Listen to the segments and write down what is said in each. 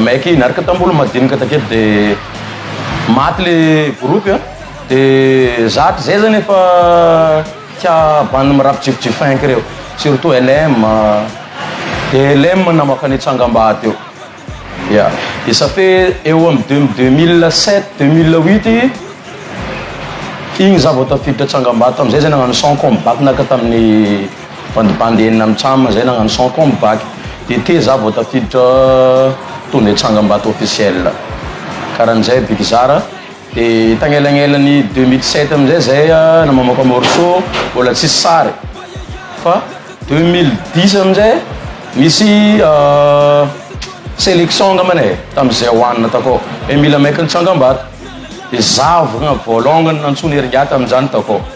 Maiky niaraka tamboly madinika takety de maty le groupe a de zatra zay zany efa tia bandy mirapy jifijifinky reo surtout LM de LM namaka ny tsangambady eo ya de ça fait eo am deux deux mille sept deux mille huit igny za vao tafiditra tsangambady tamizay zay nagnano son comme back naka taminy Bandibandy enina amin'ny cam izay nagnano sans com bac DT za vao tafiditra to de tsangambato officiel karan'izay Big Zara de tagnelanelany deux mille sept amin'izay zay namamoaka morceau mbola tsisy sary fa deux mille dix amin'izay nisy selection angambany e tamin'izay ho anona takao hoe mila maiky ny tsangambato de za vao longany nantsoiny heringà tamin'izany takao.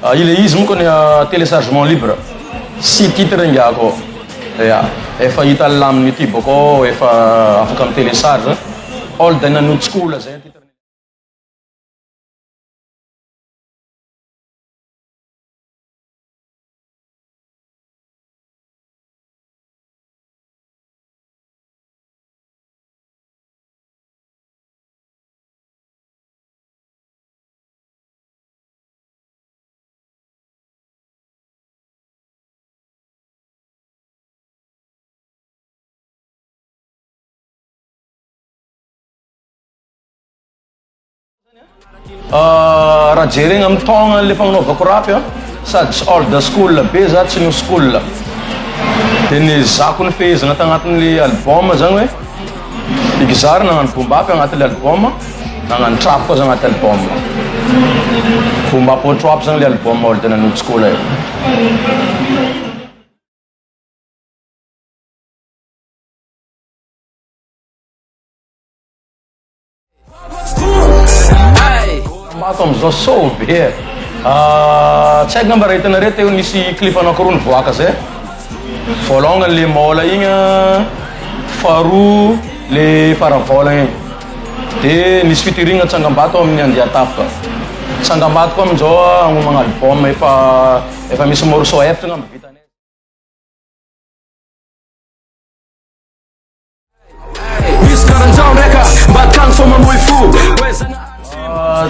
Ilay izy monko ny telechargement libre sy titre ngy ako ya efa hita ny laminy ity boko efa afaka mi telecharge all day na notes koa lazaina titre ny raha jerena amin'ny taogna le fagnanovako rap a sady tsy old school be za tsy new school de ny zako ny fehezana tagnatin'le album zany hoe Big Zary nagnano boom bap agnaty le album, nagnano trap koa za agnaty album. Boom bap or trap zany le album or tena nojiko le. Mato amizao so be e! Ahh tsy haiko ngamba raha hitanareo teo nisy clip anakiroa nivoaka zay voalongany le maola igny an faharoa le faravaola igny de nisy featuring tsangambato amin'ny andiatafo ka tsangambato koa amizao hagnomagna album efa efa misy morceau efatra ngamba vitanay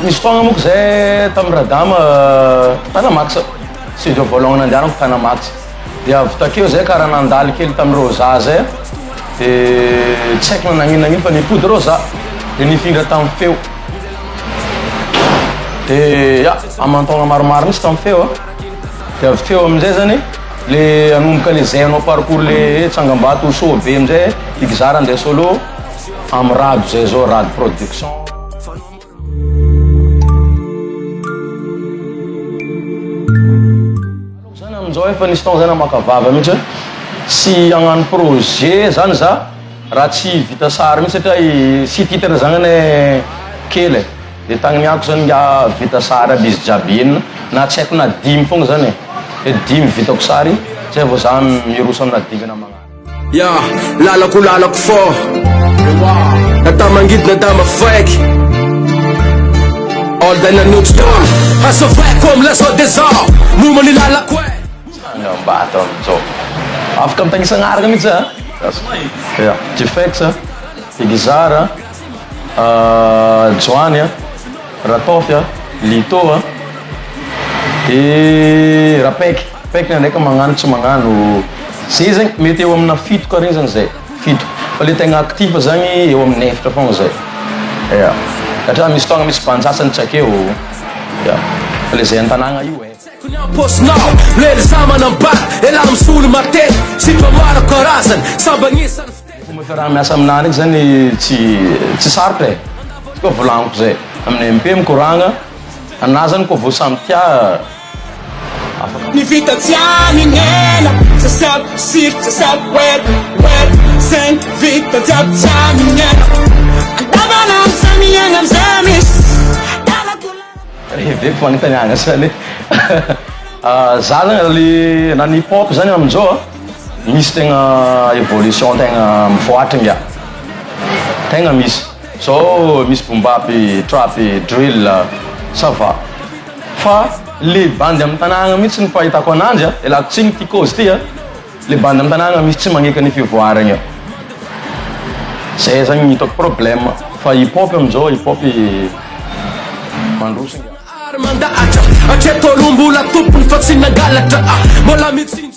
Nisy fotoagna moko zay tamin'ny Radama tana Max studio voalongany nandianako tana Max de avy takeo zay kara nandalo kely tamin'ny Rosa zay de tsy haiko na nagnino nagnino fa nipody Rosa de nifindra tamin'ny feo de ya aman-taogna maromaro mintsy tamin'ny feo a. De avy teo amin'izay zany le anomboka le zay anao parcours le eh, tsangambato ho soa be amin'izay eh, i Gza raha andeha solo amin'ny rado izay zao, rado production. Aleoko zany amin'izao efa nisy taona zay namaka vava mihitsy hoe tsy hagnano projet zany za raha tsy vita sary mihitsy satria i site internet zany anie kely eh. Dia tagniniako zany nga vita sary aby izy jiaby enina na tsy haiko na dimy fogna zany e, dia dimy vitako sary zay vao za miroso amina dingana magnaraka. Yeah, lalako lalako fô Na tamy mangidy na tamy mafaiky All day na noite done Hasa vrai comme la zao de zao Momba ny lalako e Tsangambato amin'izao Afaka mitagny isagn'araka mihitsy a Gasy Yeah, Jfex a, Igizara a. Joany a, Rataofy a, Lito a, de Rapaiky, Rapaiky na ndraika magnano tsy magnano, zay zany mety eo amina fito kare zany zay, fito fa le tegna actif zany eo amina efatra fogna zay, ya satria misy fotoagna misy band sasany tsy akeo, ya fa le zay an-tagnagna io e. Ny fomba fiaraha miasa aminah ndraiky zany tsy tsy sarotra e, koa volagniko zay amin'ny MP mikoragna anah zany koa vao samy tia afaka. Ny vita tsy amin'ela Sasako siro sasako wet wet Zegny vita jiaby tsy amin'ela Andavanandro zah miaigna amze misy Lalako lalako Reveko fagnotaniagna zany e Zah zany le na ny hip hop zany amizao a. Misy tegna evolution tegna mivoatra inga. Tegna misy. Zao misy boom bap, trap, drill, ça va. Fa le bandy amin'ny tanàgna mihitsy ny fahitako ananjy a, ialako tsiny ity cause ity a, le bandy amin'ny tanàgna misy tsy magnaiky ny fivoaragna. Zay zagny ny hitako problème. Fa hip hop amin'izao, hip hop mandroso inga.